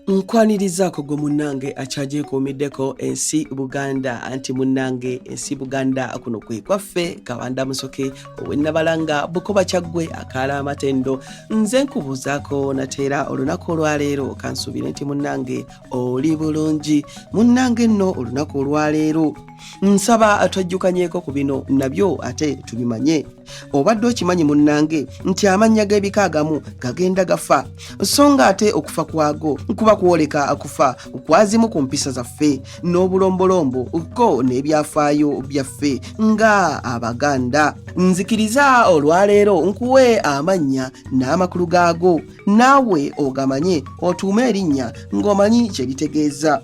nkwanirizaako gwe munnange akyagyekuumiddeko ensi buganda anti munnange ensi buganda kuno kwe kwaffe kabanda musoke owennabalanga bukoba kyaggwe akaala amatendo nze nkubuuzaako nateera olunaku olwaleero kansuubire nti munnange oli bulungi munnange nno olunaku olwaleero nsaba twajjukanyeko ku bino nabyo ate tubimanye obadde okimanyi munnange nti amannya g'ebika agamu gagenda gafa so nga ate okufa kwago kuba kwoleka akufa kwazimu ku mpisa zaffe n'obulombolombo ko n'ebyafaayo byaffe nga abaganda nzikiriza olwaleero nkuwe amannya n'amakulu gaago naawe ogamanye otuume erinnya ng'omanyi kye bitegeeza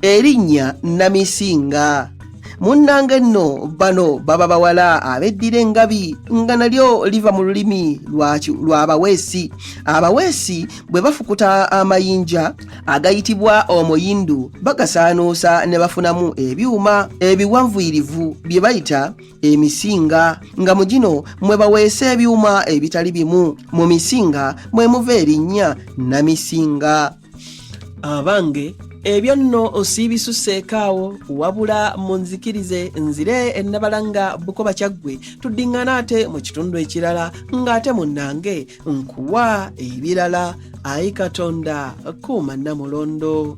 erinnya namisinga munnange nno bano baba bawala abeddira engabi nga nalyo liva mu lulimi lw'abaweesi abaweesi bwe bafukuta amayinja agayitibwa omuyindu bagasaanuusa ne bafunamu ebyuma ebiwanvuyirivu bye bayita emisinga nga mu gino mwe baweesa ebyuma ebitali bimu mu misinga mwe muva erinnya namisinga abange ebyo nno osiibisuseeko awo wabula munzikirize nzire ennabalanga bukoba kyaggwe tuddiŋŋana ate mu kitundu ekirala ng'ate munnange nkuwa ebirala ayi katonda kuuma nnamulondo